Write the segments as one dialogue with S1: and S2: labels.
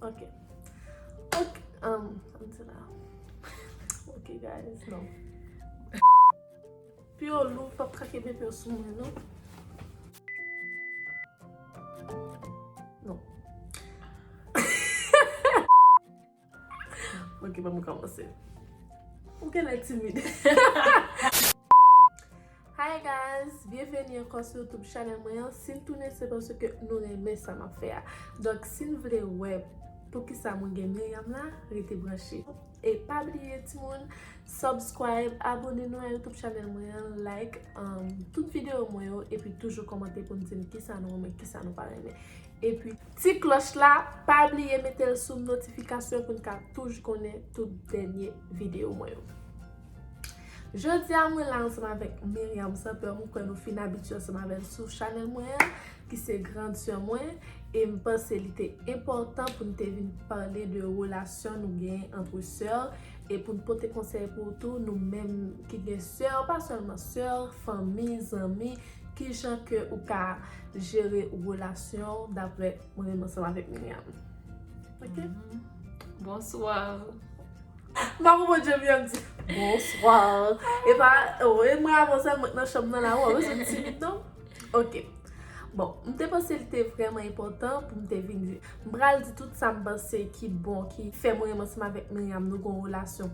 S1: Ok. Ok. Um, I'm too loud. Ok, guys. No. Pi yo lou, pa pa kake bebe yo sou mwen, no? No. Ok, pa mwen kama se. Ou gen lè timide. Hi guys byenveni ankò sou youtube channel mwen an sin tounen se paske nou renmen sa map fè a donk sin vle wè poukisa mwen gen Myriam la rete branche e pa bliye timoun subscribe abone nou a youtube channel mwen an like tout video mwen yo epi toujou kòmante poun dim kisa nou renmen kisa nou pa renmen epi ti klòch la pa bliye metel sou notification poun ka touj konnen tout dènye video mwen yo. Jodia mwen la ansanm avèk Miriam Sans Peur mwen kwè nou fin abitye ansanm avèl sou chanèl mwen an ki se grand sè mwen e m panse li te enpòtan pou nou te vin pale de relasyon nou gen antre sè e pou nou pote konsèy pou ou tou nou menm ki gen sè pa sèlman sè, fanmi, zanmi ki jan ke ou ka jere relasyon daprè mwen menm ansanm avèk Miriam ok
S2: Bonsoir.
S1: Maman mwen djèm yèm di Bonsoir E pa E mwen avon sa mwen nan chanm nan la Ou avon se timit non Ok Bon M te panse l te vreman epotan pou m te vin di M pral di tout sa m panse ki bon ki fè mwen renmen seman vek Myriam nou gon relasyon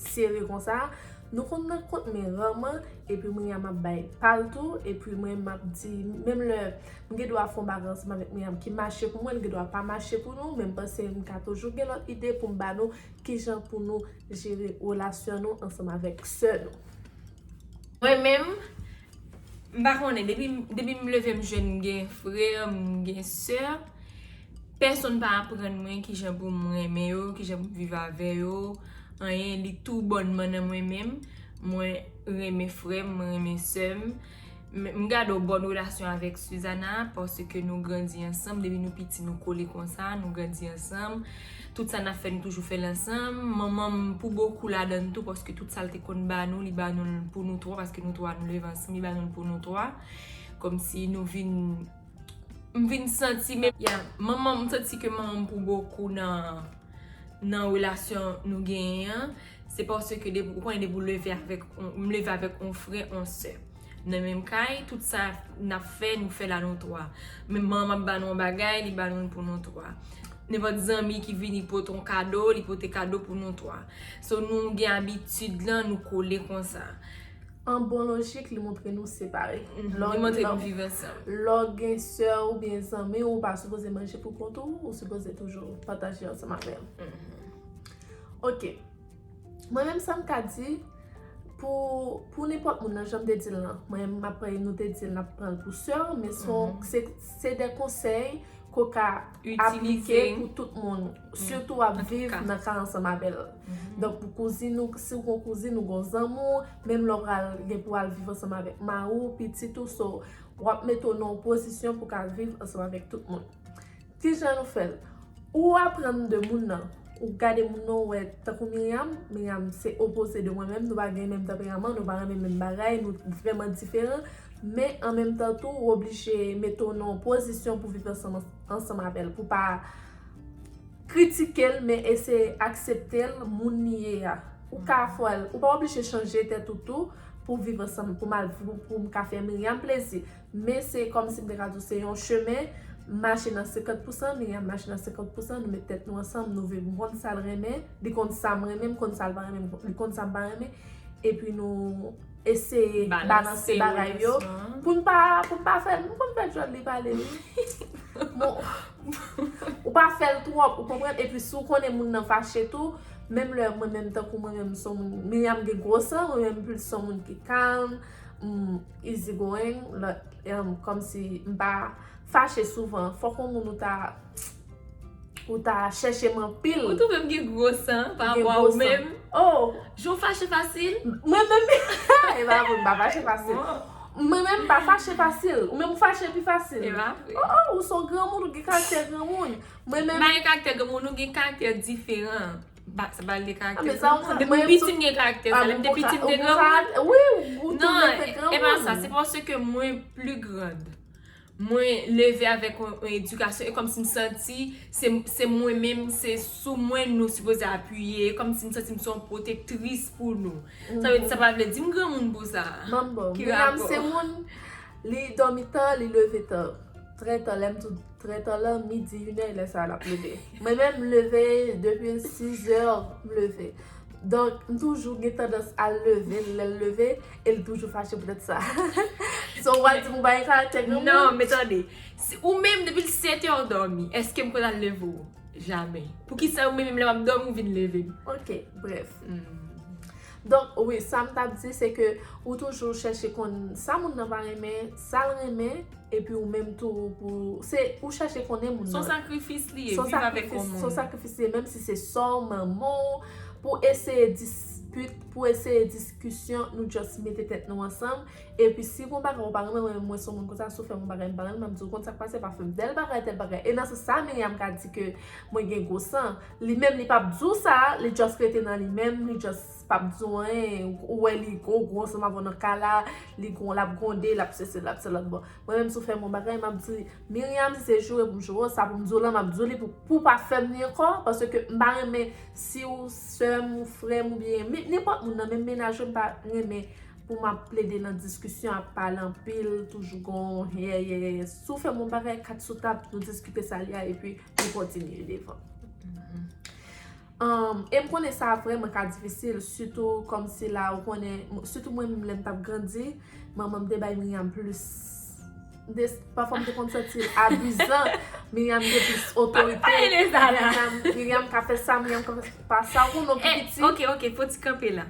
S1: Sere konsa Nou konn nan kont men raman E pi Myriam ap bay pal tou E pi mwen m ap di Menm lè M gen dwa fon bagay ansanm avek Myriam ki mache pou mwen li gen dwa pa mache pou nou Men m panse m ka toujou gen lot ide pou m ba nou Kijan pou nou jere relasyon nou ansanm avèk sè nou? Mwen
S2: menm, m pa konnen, depi m leve m jwenn m gen frè, m gen sè, pèsonn pa aprann mwen kijan pou m renmen yo, kijan pou m viv avè yo, anyen, li tou bònman nan mwen menm, mwen renmen frè m, mwen renmen sè m. M gade w bòn relasyon avèk Suzana paske nou grandi ansanm depi nou piti nou kole konsa nou grandi ansanm tout sa nap fè nou toujou fèl ansanm manman m pou bokou ladann tou paske tout sal te konn ba nou li ba nou l pou nou 3 paske nou 3 nou leve ansanm li ba nou l pou nou 3 kòmsi nou vin m vin santi m ya manman m santi ke manman m pou bokou nan nan relasyon nou genyen an. Se paske depi, ou konnen depi ou leve avèk, m leve avèk on frè, on sè. Nan menm kay, tout sa n ap fè, nou fè l a nou twa. Menm manman m ba nou on bagay, li ba nou l pou nou twa. Nenpòt zanmi ki vini pote on kado, li pote kado pou nou twa. So nou gen abitid lan, nou kole konsa. An bon
S1: lojik, li montre nou separe. Li montre nou
S2: viv ansanm. Lè w gen sè
S1: w oubyen zanmi w, ou pa sipoze manje pou kont ou, ou sipoze toujou pataje ansanm avè l. Ok, mwen menm sa m ka di pou nenpòt moun nan, jan m te di l lan, mwen m ap pran, nou te di l n ap pran l pou sè w, men son, se de konsèy ke w ka aplike pou tout moun, sitou w ap viv nan ka ansanm avè l. Donk pou kouzin ou, si w gen yon kouzin ou gen yon zanmi w, menm lè w pral gen pou w al viv ansanm avèk mari w, pitit ou, so w ap mete w nan yon pozisyon pou w ka viv ansanm avèk tout moun. Kijan nou fèl? Ou aprann de moun nan, ou gade moun nan ou wè tankou Myriam, Myriam se opoze de mwen menm, nou pa gen menm tanperaman, nou pa renmen menm bagay, nou vrèman diferan, men an menm tan tou ou oblije mete w nan yon pozisyon pou viv ansanm avè l, pou pa kritike l men eseye aksepte l moun li ye a. Ou ka fè l, ou pa oblije chanje tèt ou tou pou viv ansanm, pou m ka fè Myriam plezi. Men se kòmsi m te ka di w se yon chemen, m mache nan senkant pousan, Myriam mache nan senkant pousan, nou met tèt nou ansanm, nou vin konn sa l renmen, li konn sa m renmen, m konn sa l pa renmen, li konn sa m pa renmen, epi nou eseye balanse bagay yo, pou n pa, pou n pa fè, m konn fè djòl li pale wi, bon, ou pa fè l twòp, ou konprann, epi si w konnen moun nan fache tou, menm lè mwen menm tankou mwen menm m son moun, Myriam gen gwo san, mwen menm m plis son moun ki kalm, m. Easy going like kòmsi m pa fache souvan fòk yon moun ou ta ou ta chèche m anpil. Ou twouve m gen gwo
S2: san pa rapò a ou menm? Oh! Jan w
S1: fache
S2: fasil? Mwen menm e
S1: pa vre m pa fache fasil. Mwen menm m pa fache fasil. Ou menm ou fache pi fasil? E pa vre. Oh oh ou s on granmoun ou gen karaktè granmoun. Mwen menm. M pa gen karaktè granmoun nou gen
S2: karaktè diferan. Ba sa bal gen karaktè sa non. Depi m piti
S1: m gen karaktè
S2: sa. Lè m te piti m te granmoun. Wi ou tou lè te granmoun. Non e pa sa. Se paske mwen pli grand. Mwen leve avèk yon edikasyon. E kòm si m santi se mwen menm se sou mwen nou sipoze apiye. E kòm si m santi m se yon pwotektris pou nou. Sa vle di sa pa vle di m granmoun pou sa. Manbo. Ki rapò. Menam
S1: se moun li dòmi ta li leve ta. Trè ta lè m tou. Trè ta lè midi inè lè sa lap leve. Mwen menm m leve depi 6 è m leve. Donk m toujou gen tandans al leve l lè l leve e l toujou fache poutèt sa. So wal di m ou bay karaktè granmoun? Non men tande,
S2: ou menm depi 7 è ou dòmi eske m konn al leve ou? Jamè. Poukisa ou menm menm lè map dòmi ou vin leve m? Ok brèf.
S1: Donk, wi, sa m t ap di se ke ou toujou chèche konn sa moun nan pa renmen, sa l renmen, epi ou menm tou pou, se ou chèche konnen moun nan. S on sakrifis li ye,
S2: viv avèk yon moun. S on sakrifis li ye,
S1: menm
S2: si
S1: se sè w, manman w, pou eseye dispit, pou eseye diskisyon, nou just mete tèt nou ansanm, epi si gon bagay ou pa renmen, mwen menm mwen s on moun konsa, si w fè m yon bagay m pa renmen, m ap di w, ou konn sa k pase, pa fè m tèl bagay, tèl bagay, e nan sans sa, Myriam ka di ke mwen gen gwo san. Li menm li pap di w sa, li just rete nan li menm, li just pap di w anyen, ou wè li gwo gwo ansanm avè w nan kay la, li gwo, lap gwonde, lap sesi, lap selòt, bon, mwen menm si w fè m yon bagay, map di, Myriam si se joure pou m joure w, sa pou m di w lan, map di w li pou, pou w pa fè m li ankò, paske m pa renmen si w sè m ou frè m oubyen, men nenpòt moun nan, menm menaj yo m pa renmen pou map plede nan diskisyon ap pale anpil, toujou gon yè yè yè yè, si w fè m yon bagay kat sou tab, nou diskite sa li a epi. pou kontinye devan. E m konnen sa vreman ka difisil, sitou kòm si la ou konnen, sitou mwen menm lè m t ap grandi, manman m te bay Myriam plis, pafwa m te konn santi l abizan, Myriam gen plis otorite. Pa pale de sa la! Myriam ka fè sa, Myriam ka fè sa, ou konnen w pi piti. Ok, ok, fò w ti kanpe
S2: la.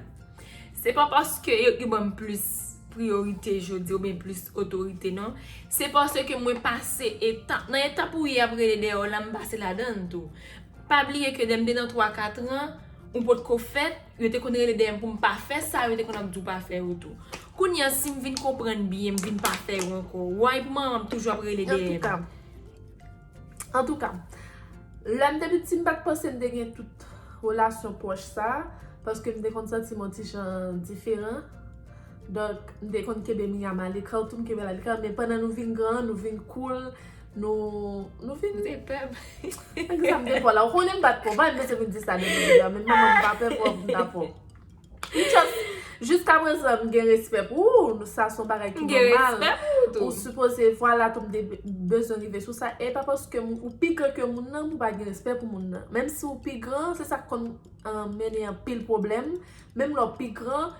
S2: Se pa paske yo ki banm plis priyorite jodi ou byen plis otorite non. Se paske mwen pase etap, nan etap ou ye ap rele dèyè w la m pase ladann tou. Pa bliye ke lè m te nan 3, 4 ran, ou pot ko fèt, yo te konn rele dèyè m pou m pa fè sa yo te konn ap di w pa fè yo tou. Kounye an si m vin konprann byen m vin pa fè yo ankò, why pou manman m toujou ap rele dèyè m?
S1: An tou ka, lè m te piti m pa t panse m te gen tout relasyon pwòch sa a, paske m te konn santi m on ti jan diferan. Donk, m te konn kenbe Miyam alekan, ou tou m kenbe l alekan. Men pandan nou vin gran, nou vin koul, nou, nou vin. Te pè m.
S2: Egzanp, defo
S1: la, ou konnen m pa t pwòp, m pa janm eseye m di sa de m menm, men manman m pa pè pwòp, m ta pwòp. Just Jiska prezan m gen respè pou ou, sa son bagay ki nòmal. M gen respè pou ou tou. Ou sipoze vwala tou m te bezwen rive sou sa. E pa paske ou pi gran ke moun nan pou pa gen respè pou moun nan. Menm si ou pi gran, se sa k konn mennen anpil pwoblèm. Menm lè w pi gran,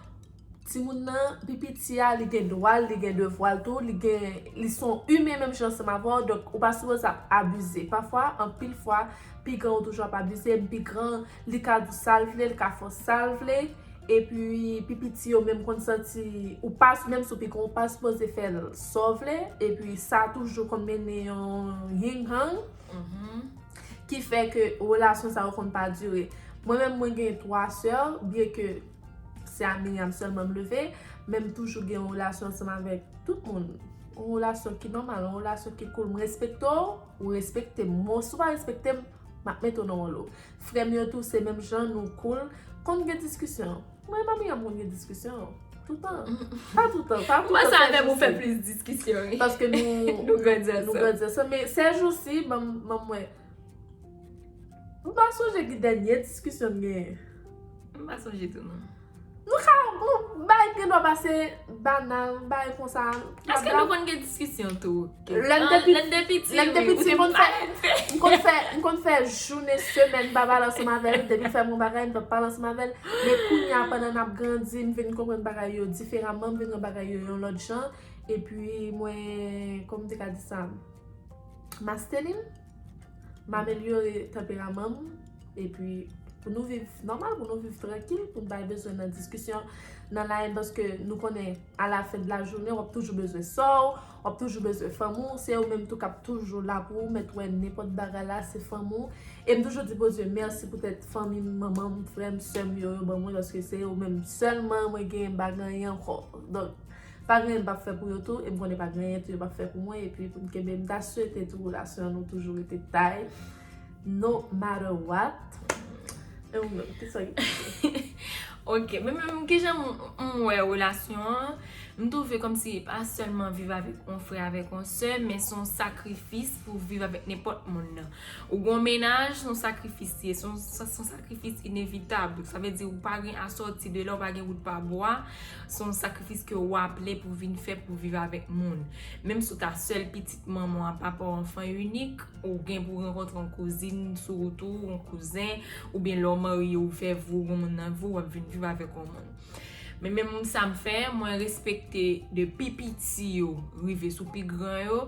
S1: timoun nan, pi piti a, li gen dwa l, li gen devwa l tou. Li gen, li son imen menm jan ansanm avè w. Donk ou pa sipoze ap abize. Pafwa, anpil fwa, pi gran ou toujou ap abize. M pi gran, Li ka dous sa l vle, li ka fò sa l vle. Epi pi piti yo menm konn santi ou pa, menm si w pi gran ou pa sipoze fè l sa w vle. Epi sa toujou konn mennen yon ying hang. Ki fè ke relasyon sa yo konn pa dire. Mwen menm mwen gen 3 sè, byen ke se a Miriam sèlman m leve. Men m toujou gen yon relasyon ansanm avèk tout moun. Yon relasyon ki nòmal, yon relasyon ki koul. M respekte w, ou respekte m. Menw si w pa respekte m. Map met ou nan yon lo. Frem yo tou se menm jan nou cool. Konn gen diskisyon. Mwen e Mami an m konn gen diskisyon. Toutan. Pa toutan. Pa toutan se jou si. Mwen sa avem ou fe plis
S2: diskisyon wi. Paske nou grandi
S1: ansanm. Nou grandi ansanm. Men se jou si banm banm we. M pa sonje ki denye diskisyon m genyen. M pa
S2: sonje tou non. Nou ka nou
S1: bay gen dwa pase banal bay konsa. Eske nou konn gen
S2: diskisyon tou? Lè m te piti. Lè m te piti. Lè m te piti m konn fè. Ou te
S1: m pale m konn fè. M konn fè jounen semèn m pa pale ansanm avè l. Depi l fè m yon bagay m pa pale ansanm avè l. Men kounya pandan n ap grandi m vin konprann bagay yo diferaman. M vin wè bagay yo yon lòt jan. Epi mwen kòman m te ka di sa? Masteni m. M amelyore tanperaman m epi pou nou viv nòmal, pou nou viv trankil, pou nou pa bezwen nan diskisyon, nan layèn paske nou konnen alafen de la jounen w ap toujou bezwen sò w, w ap toujou bezwen fanmi w, se yo menm tou k ap toujou la pou ou mèt wè nenpòt bagay la se fanmi w. E m toujou di Bondye mèsi poutèt fanmi m, manman m, frè m, sè m yo yo ban mwen paske se yo menm sèlman mwen gen m pa gen anyen ankò. Pa griyen m pap fè pou yo tou e m konnen pa griyen tou yo pap fè pou mwen e pi pou n kenbe m ta swete tou relasyon nou toujou rete tay no matter what e ou menm kisa ki
S2: pou ou? Ok men menm kijan m wè relasyon an m twouve kòmsi e pa sèlman viv avèk yon frè avèk yon sè men son sakrifis pou w viv avèk nenpòt moun nan ou gon mennaj son sakrifis li ye son sakrifis inevitab sa vle di ou pa gen asòti de la ou pa gen wout pa bwa Se yon sakrifis ke ou aple pou vin fè pou viv avèk moun. Menm si ou ta sèl pitit manman an, papa w anfan inik, ou gen pou rankontre yon kouzin sou wout ou, yon kouzen, oubyen lè w marye ou fè vi w gen yon moun nan vi w, w ap vin viv avèk yon moun. Men menm sa m fè, mwen respekte de pi piti yo rive sou pi gran yo,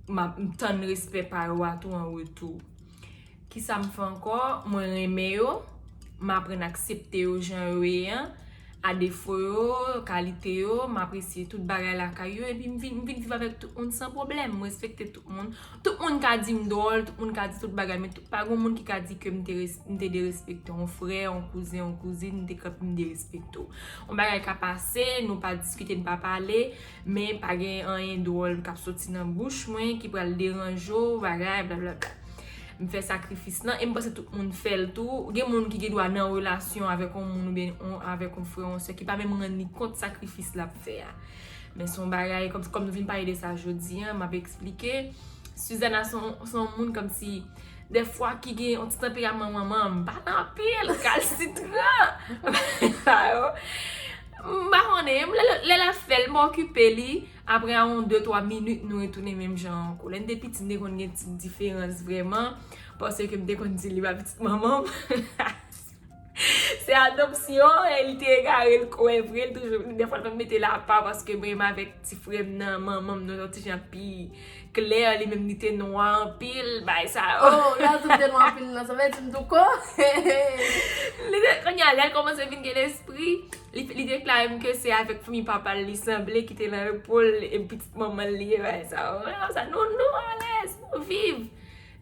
S2: m tann respè pa yo a tou an retou. Kisa m fè ankò? Mwen renmen yo, m aprann aksepte yo jan yo ye an, a defo yo, kalite yo, m apresye tout bagay lakay yo epi m vin viv avèk tout moun san pwoblèm, m respekte tout moun. Tout moun ka di m dwòl, tout moun ka di tout bagay men pa gen yon moun ki ka di ke m te derespekte yon frè, yon kouzen, yon kouzin, m te kapab m derespekte w. Yon bagay ka pase, nou pa diskite, nou pa pale. Men pa gen anyen dwòl k ap soti nan bouch mwen ki pral deranje w bagay blablabla. M fè sakrifis lan e m panse tout moun fè l tou. Gen moun ki gendwa nan relasyon avèk yon moun oubyen avèk yon frè, yon sè ki pa menm rann li kont sakrifis l ap fè a. Men s on bagay, kòm nou vin pale de sa jodi an, m ap esplike. Suzana s on moun kòmsi Dèfwa ki gen yon ti tanperaman manmanm, pa nan anpil, kalsitran. Bagay sa yo. M pa konnen, lè l ap fè l, m okipe li. Aprè yon de twa minit, nou retounen menm jan an. Kou lè n te piti, n te konn gen ti diferans vrèman. Pase ke m te konn di li pa pitit manman m. Se adopsyon e li te egare li kwè vre li toujou de fwa l pa mete l apa paske menm avèk ti frè m nan manman m nan yon ti jan pi klè li menm li te nwa anpil bay sa yo. Oh lè w di m te nwa
S1: anpil nan sa vle di m douko hehe.
S2: Kounye a lè l kòmanse vin gen lespri li deklare m ke se avèk fanmi papa l li sanble ki te nan epòl e pitit manman l li ye bay sa yo. Mwen wè m sa non non alèz viv.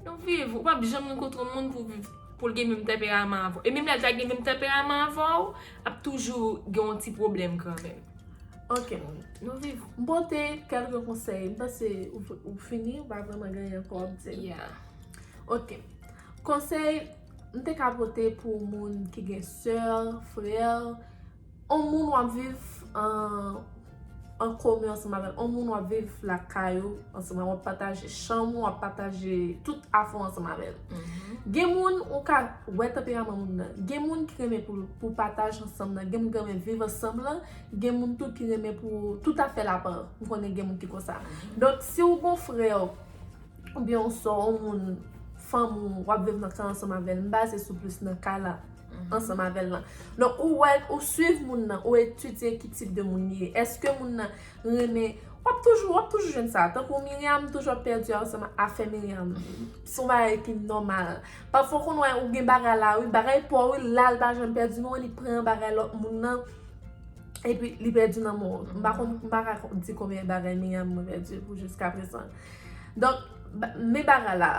S2: Nou viv, ou pap janm rankontre moun pou viv pou l gen menm tanperaman avè w. E menm lè l ta gen menm tanperaman avè w, ap toujou gen yon ti pwoblèm kanmenm. Ok,
S1: nou viv.
S2: M pote kèlke
S1: konsèy. M panse ou fini, ou pa vrèman gen anyen pou w ap di. Ya.
S2: Ok.
S1: Konsèy m te ka pote pou moun ki gen sè, frè. On moun wap viv an komen ansanm avèl, on moun wap viv lakay ou ansanm avèl, wap pataje chanm ou, wap pataje tout afè ou ansanm avèl. Gen moun ou ka wè tanperaman moun nan, gen moun ki renmen pou pataj ansanm nan, gen moun ki renmen pou viv ansanm lan, gen moun tou ki renmen pou tout afèl apa, m konnen gen moun ki konsa. Donk si ou gon frè ou, oubyen on sè ou, on moun, fanm ou, wap viv nan kay ansanm avèl, m baze sou plis nan kay la. ansanm avè l lan. Donk ou wè, ou swiv moun nan, ou etidye ki tip de moun li ye. Eske moun nan renmen, w ap toujou, w ap toujou jwenn sa. Tankou Myriam toujou ap pèdi ansanm ak afè Myriam. Se yon bagay ki nòmal. Pafwa w konn wè ou gen bagay la wi, bagay pa w wi, la l pa janm pèdi non, li pran bagay lòt moun nan, epi li pèdi nan men w. M pa konn, m pa ka di konbyen bagay Myriam mwen pèdi pou jiskaprezan. Donk, men bagay la.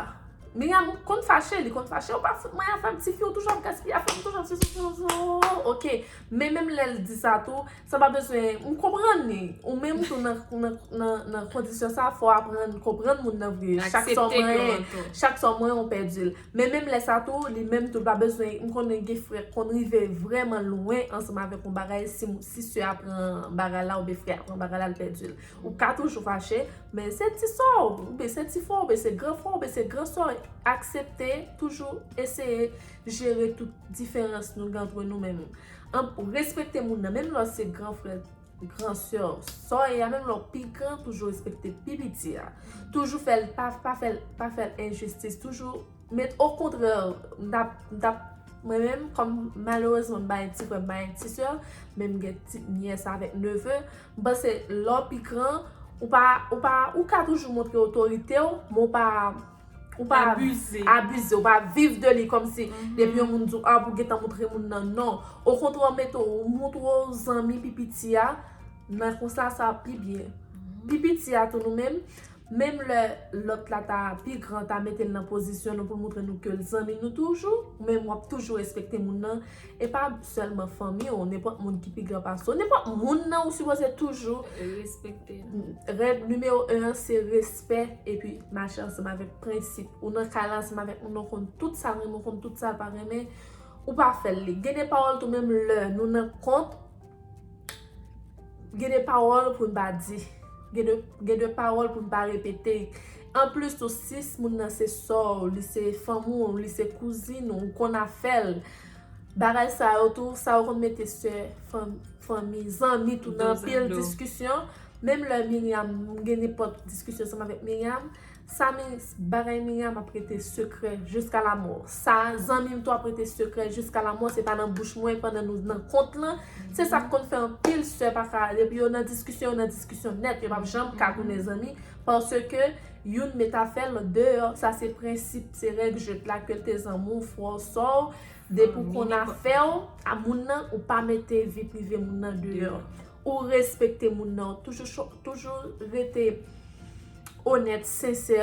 S1: Miriam konn fache, li konn fache, ou pa fout mwen afèm, ti fi ou toujou ap gaspiye afèm, ou toujou ap sesi, toujou ap sesi, ooh, ok. Men menm lè l di sa tou, sa pa bezwen, m konprann li. Ou menm tou nan kondisyon sa, fò w aprann konprann moun nan vre. Chak sa w manyen, chak sa w manyen ou pèdi l. Men menm lè sa tou, li menm tou l pa bezwen, m konnen gen frè k konn rive vrèman lwen ansanm avèk yon bagay, si sè a pran bagay la oubyen frè a pran bagay la l pèdi l. Ou ka toujou fache. Men se ti sò w, oubyen se ti frè w, oubyen se gran frè w, oubyen se gran sè w, aksepte, toujou eseye jere tout diferans nou gen antre nou men. Respekte moun nan, menm lè w se gran frè, gran sè w, sa w ye a, menm lè w pi gran, toujou respekte pi piti a. Toujou fè l, pa fè l, pa fè l enjistis, toujou met okontrè, m ta, m ta, mwen menm kòm malerezman m pa gen ti frè, m pa gen ti sè, men m gen ti nyès avèk neve. M panse lè w pi gran, ou pa, ou pa, ou ka toujou montre otorite w, men w pa, ou pa Abize. abize, ou pa viv de li kòm si depi yon moun di w a pou w gentan montre moun nan, non. Okontrè w mete w, ou montre w zanmi pi piti a, nan konsa sa ap pi byen. Pi piti a tou nou menm, Menm lè lòt la ta pi gran ta mete l nan pozisyon nou pou l moutre nou ke l zanmi nou toujou men wap toujou respekte moun nan e pa sèlman fanmi w nenpòt moun ki pi gran pase w nenpòt moun nan ou sipoze toujou respekte l
S2: règ nimewo
S1: 1 an se respè epi mache ansanm avèk prensip ou nan kay la ansanm avèk moun nan ou konn tout sa l renmen ou konn tout sa l pa renmen ou pa fè l li gen de pawòl tou menm lè nou nan kont. Gen de pawòl pou n pa di. Gen de pawòl pou n pa repete. Anplis tou, si moun nan se sò w, li se fanm ou, li se kouzin ou, ou konn afè l, bagay sa yo tou, sa yo konn mete sè, fanmi, zanmi tou nan anpil diskisyon. Menm lè Myriam, m gen nenpòt diskisyon ansanm avèk Myriam. Sa min bagay Miriam ap rete sekrè jiska lamò sa zanmim tou ap rete sekrè jiska lamò se pa nan bouch mwen pandan nou nan kont lan se sak konn fè anpil sè paka depi yo nan diskisyon yo nan diskisyon nèt yo pap janm ka tounen zanmi paske youn met afèl lòt deyò sa se prensip se règ jwèt la kel te zanmiw frèw sèw depi ou konn afèw a moun nan ou pa mete vi prive moun nan deyò Ou respekte moun nan, ou toujou rete onèt, sensè,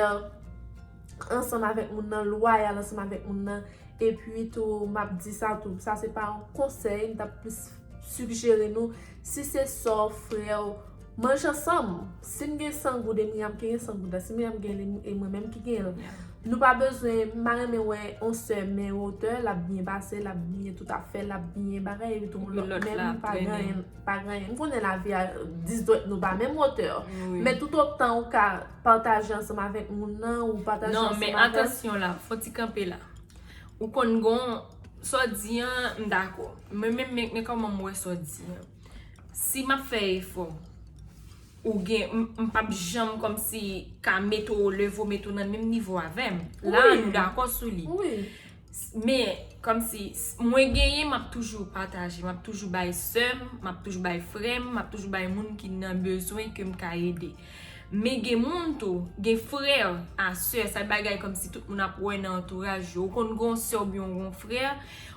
S1: ansanm avèk moun nan, lwayal ansanm avèk moun nan. E pi tou, m ap di sa tou, sa se pa yon konsèy, m ta plis sigjere nou, si se sè w, frè w, manje ansanm. Si m gen 100 goud e Myriam ki gen 100 goud la, si Myriam gen li e mwen menm ki gen l, nou pa bezwen, m pa renmen wè yon sè men wotè, l ap byen pase, l ap byen tout afè l, l ap byen bagay epi tou moun lòt menm pa gen anyen, pa gen anyen. M konnen lavi a dis dwèt nou pa menm wotè, men tout otan ou ka pataje ansanm avèk moun nan, ou pataje ansanm avèk. Non, men atansyon
S2: la, fò ti kanpe la. Ou konn gon, sa w di an, m dakò. Mwen menm, men kòman m wè sa w di an. Si map fè efò, ou gen, m pap janm kòmsi ka met ou o levo, met ou nan menm nivo avèm. La a nou dakò sou li. Men, kòmsi, mwen genyen map toujou pataje, map toujou bay sèm, map toujou bay frèm, map toujou bay moun ki nan bezwen ke m ka ede. Men gen moun tou, gen frè a sè, sa bagay kòmsi tout moun ap wè nan antouraj yo. Ou konn gon sè ou byen ou gon frè,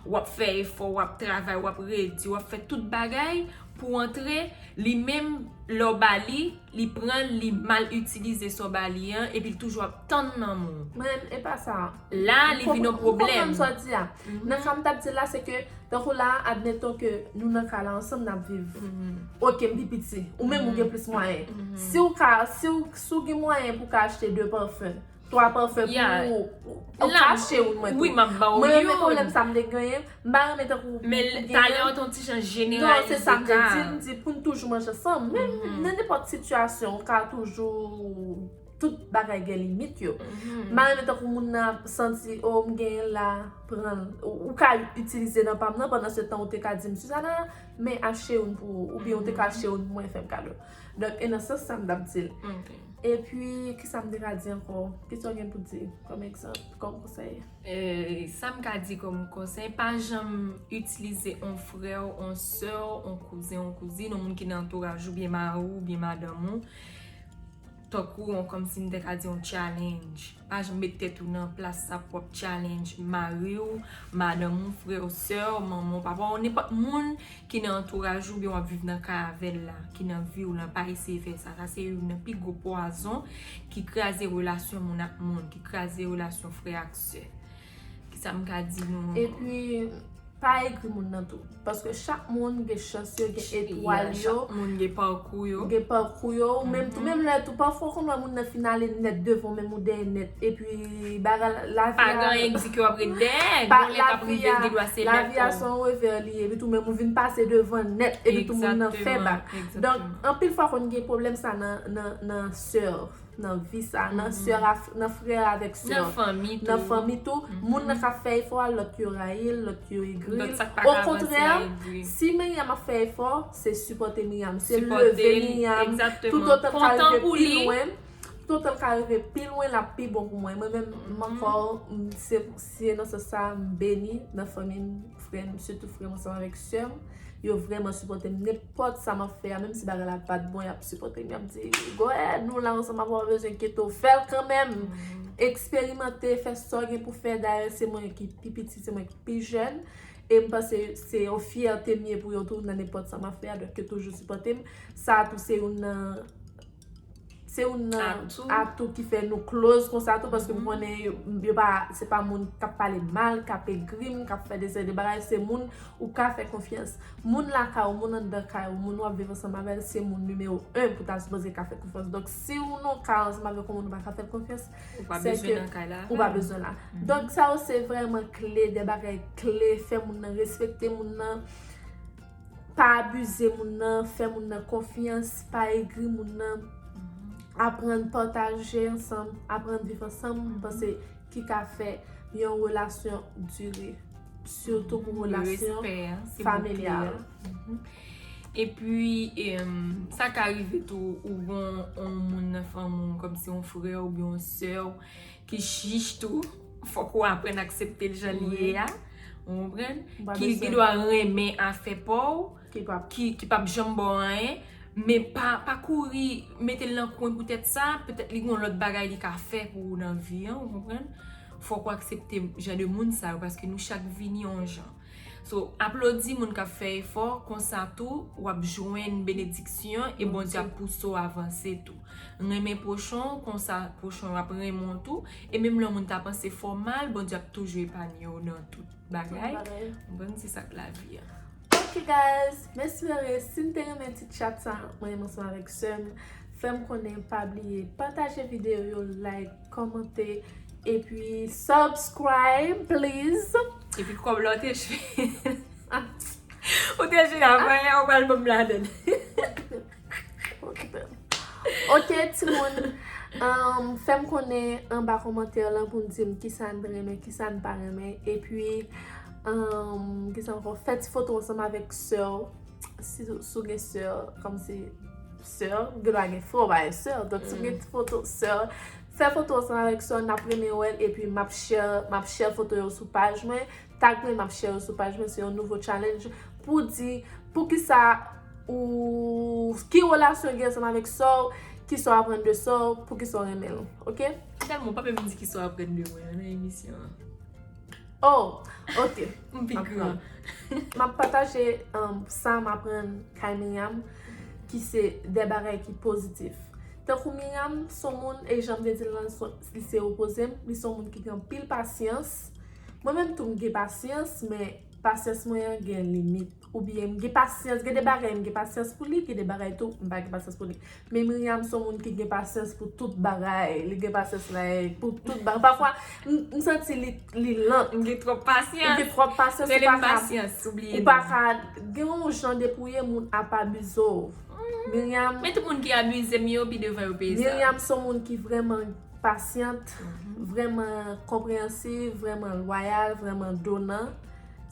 S2: Wap fè efò, wap travay, wap redi, wap fè tout bagay pou w antre, li menm lè w ba li, li pran l, li mal itilize sa w ba li an, epi l toujou ap tann nan men w. Men, e pa sa.
S1: La, li vin yon
S2: pwoblèm. M konprann sa w di a.
S1: Nan sa m tap di la, se ke, tankou la, admeton ke nou nan kay la ansanm nap viv. Ok, m pi piti. Ou menm ou gen plis mwayen. Si w ka, si w gen mwayen pou w ka achte 2 parfum. 3 pafè pou ou. Ou fache ou mwen tou. Wi map baw youn. Mwen renmen
S2: pwoblèm sa mte
S1: genyen. Mpa renmen tankou ou genyen. Men talè an
S2: ton ti jan jeneralize ka. Non se sa
S1: mte di. Mdi poun toujou manje ansanm. Men nan nenpòt sitiyasyon ou ka toujou. Tout bagay gen limit yo. Mpa renmen tankou moun nan ap santi oh mgenyenl la pranl. Ou ka itilize nan pam nan pandan se tan ou te ka dim Suzana men acheyoun pou ou. Oubyen ou te ka acheyoun pou mwen fèm kado. Donk e nan sans sa m t ap di l. E pi, ki sa m te ka di ankò? Ki sa w gen pou di kòm egzanp, kòm konsèy? Sa m ka
S2: di kòm konsèy, pa janm itilize yon frè w, yon sè w, yon kouzen, yon kouzin, yon moun ki nan antouraj ou, oubyen mari w, oubyen madanm ou. Tankou yon kòmsi m te ka di yon challenge. Pa janm met tèt ou nan plas sa pou w ap challenge mari w, madanm ou, frè w, sè w, manman w, papa w, nenpòt moun ki nan antouraj ou oubyen w ap viv nan kay avè l la, ki nan vi w la, pa eseye fè sa. Sa se youn nan pi gwo pwazon ki kraze relasyon moun ak moun, ki kraze relasyon frè ak sè. Kisa m ka di nou. Epi
S1: pa egri moun nan tou. Paske chak moun gen chans yo, gen etwal yo. Chak moun gen pakou
S2: yo. Gen pakou yo. Ou
S1: menm tou, menm lè tou, pafwa ou konn wè moun nan fin ale nèt devan w menm ou dèyè nèt. Epi bagay la, lavi a. Pa gen egzi ki w ap ret
S2: dèyè. Gon lè k ap rive l gen dwa se lèt tou. Lavi a se yon revè
S1: li ye. Epi tou menm ou vin pase devan l nèt. Epi tou moun nan fè bak. Donk anpil fwa konn gen pwoblèm sa nan sèvo. nan vi sa, nan sè a, nan frè a avèk sè a, nan fanmi tou, moun nan ka fè efò a, lòt yo rayi l, lòt yo egri l, okontrè, si Miryam ap fè efò, se sipòte Miryam, se leve Miryam, tout otan l ka rive pi lwen, tout otan l ka rive pi lwen, l ap pi bon pou mwen, mwen menm, m ankò, m se. Si e nan sans sa a, m beni nan fanmi m, frè m, sitou frè m ansanm avèk sè m. Yo vrèman sipòte m. Nenpòt sa m ap fè a, menm si bagay la pa t bon, y ap sipòte m. Y ap di, Go ahead, nou la ansanm avè w, pa bezwen enkyete w. Fè l kanmenm! Eksperimante, fè sa w gen pou fè. Dayè, se mwen ki pi piti, se mwen ki pi jèn. E m panse se yon fyète m ye pou yo tou nan nenpòt sa m ap fè a. Donk yo toujou sipòte m. Sa a tou se youn nan. Se youn nan atou ki
S2: fè nou
S1: close konsa tou paske m konnen yo pa se pa moun k ap pale m mal, k ap egri m, k ap fè dese de bagay, se moun ou ka fè konfyans. Moun lakay ou, moun anndan kay ou, moun w ap viv ansanm avè l, se moun nimewo 1 pou ta sipoze ka fè konfyans. Donk si w nan w kay ansanm avèk yon moun ou pa ka fè l konfyans, se
S2: ke ou pa bezwen la.
S1: Donk sa yo se vrèman kle, de bagay kle, fè moun nan respekte moun nan. Pa abize moun nan, fè moun nan konfyans, pa egri moun nan, aprann pataje ansanm, aprann viv ansanm, m panse ki ka fè yon relasyon dire, sitou pou relasyon familyal.
S2: E pi, sa ka rive tou ou gen yon moun nan fanmi w, kòmsi yon frè ou byen yon sè w, Ki chich tou. Fòk ou aprann aksepte l jan li ye a. Ou konprann? Ki gen dwa renmen afè pa w. Ki pap janm ba w anyen. Men pa kouri mete l nan kwen poutèt sa. Petèt li gen yon lòt bagay li ka fè pou ou nan vi an. Ou konprann? Fòk ou aksepte jan de moun sa yo. Paske nou chak vini yon jan. So aplodi moun kap fè efò konsa tou wap jwenn benediksyon e Bondye ap pouse w avanse tou. Renmen pwochen w konsa pwochen w ap renmen w tou e menm lè yon moun ta panse fè w mal Bondye ap toujou epanye w nan tout bagay. Bon se sak lavi a. Ok guys
S1: m espere si n te renmen ti chat sa mwen menm ansanm avèk sè m fè m konnen pa bliye pataje videyo yo like. Komante epi subscribe please. Epi kob la ou
S2: te jwe. Ou te jwe avan e ou pral banm ladan.
S1: Ok ti moun. Fem konnen anba komante lan pou nou dim kisa nou renmen kisa nou pa renmen. Epi kisa anko fè ti foto ansanm avek soeur. Si ou gen soeur. Komsi. sè Gina gen fo bagay sè donk si m gen ti foto sè fè foto ansanm avèk sè w n ap renmen wè l epi m ap share m ap share foto yo sou paj mwen tag mwen m ap share yo sou paj mwen se yon nouvo challenge pou di poukisa ou ki relasyon w gen ansanm avèk sè w kisa w aprann de sè w poukisa w renmen l ok. Tèlman ou pa menm
S2: di kisa w aprann de mwen nan emisyon an.
S1: Oh ok m pi gran.
S2: M ap pataje
S1: sa m aprann kay Myriam ki se de bagay ki pozitif. Tankou Myriam s on moun e jan m te di l lan li se opoze m, li s on moun ki gen anpil pasyans. Mwen menm tou m gen pasyans men pasyans mwen an gen limit. Ou byen m gen pasyans, gen de bagay m gen pasyans pou li, gen de bagay tou m pa gen pasyans pou li. Men Myriam son moun ki gen pasyans pou tout bagay. Li gen pasyans like pou tout bagay. Pafwa m santi li lant. M gen twòp pasyans.
S2: Ou gen twòp pasyans. Rele
S1: m pasyans. Ou
S2: bliye. Ou pa ka
S1: gen yon jan depouye moun ap abize w. Myriam. Men tout moun ki abize
S2: m yo pi devan yo peye sa. Myriam son moun ki
S1: vreman pasyant, vreman konpreyansiv, vreman lwayal, vreman donan.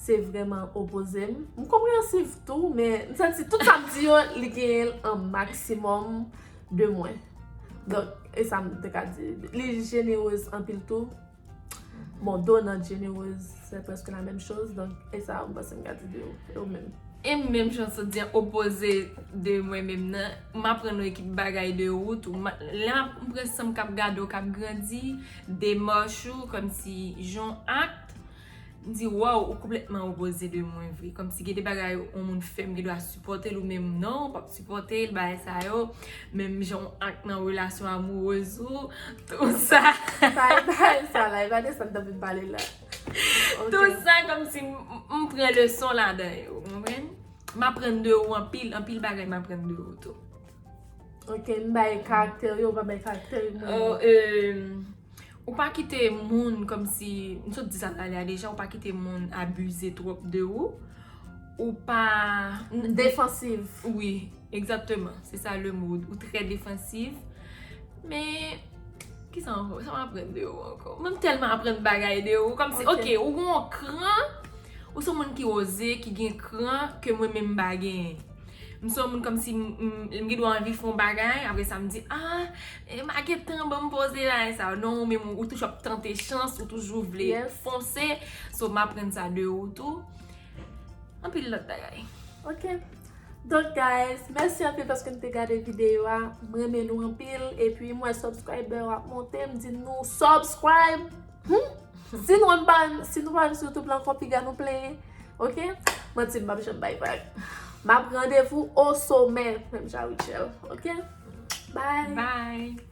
S1: Se vrèman opoze m. M konpreyansiv tou, men m santi tout sa m di yo, li genyen l an maksimòm de mwen. Donk, e sa m te ka di. Li jenerez anpil tou. Bon, donant jenerez, se prèske la menm choz. Donk, e sa m panse m ka di de yo. E ou menm? E m menm, jan
S2: sot di an, opoze de mwen menm nan. M aprann yon ekip bagay de ou tou. Lè m pran san m k ap gade w k ap grandi, demach ou, kòmsi jan w act. M di waw ou konplètman opoze de mwen vre Kòm si gen de bagay yon moun fè m gen dwa sipòte l ou menm non ou pap sipòte l bagay sa yo Menm jan ou ak nan relasyon amourez ou Tout sa Bye bye sa
S1: la e pa de sa n t anvi pale la Tout
S2: sa kòm si m pran leson ladan yo ou konprann M aprann de ou anpil anpil bagay m aprann de ou tou Ok
S1: m bay karakte w yo ou pa bay karakte w yo Ou
S2: Ou pa kite moun kòmsi, m sot di sa talè a deja, ou pa kite moun abize twòp de ou. Ou pa. Defansiv.
S1: Wi,
S2: egzatteman. Se sa le mo. Ou trè defansiv. Men, ki sa ankò? Sa m aprann de ou ankò? Mwen m tèlman aprann bagay de ou. Kòmsi, ok, ou gen yon kran. Ou se yon moun ki oze, ki gen kran, ke mwen menm m pa genyen. M se yon moun kòmsi m gen dwa anvi fè yon bagay, apre sa m di aah ma gen tan banm poze la e sa yo. Non ou menm ou toujou ap tante chans, ou toujou vle fonse. So m aprann sa de ou tou. Anpil lòt bagay. Ok.
S1: Donk guys, mèsi anpil paske nou te gade videyo a. M renmen nou anpil. E pi m wè subscriber yo ap monte. M di nou subscribe! Humm si nou pa si nou pa sou youtube lan fò piga nou plenyen ok manti m pap janm bay vag m ap randevou o somè menm jan a Rutshelle ok bye
S2: bye.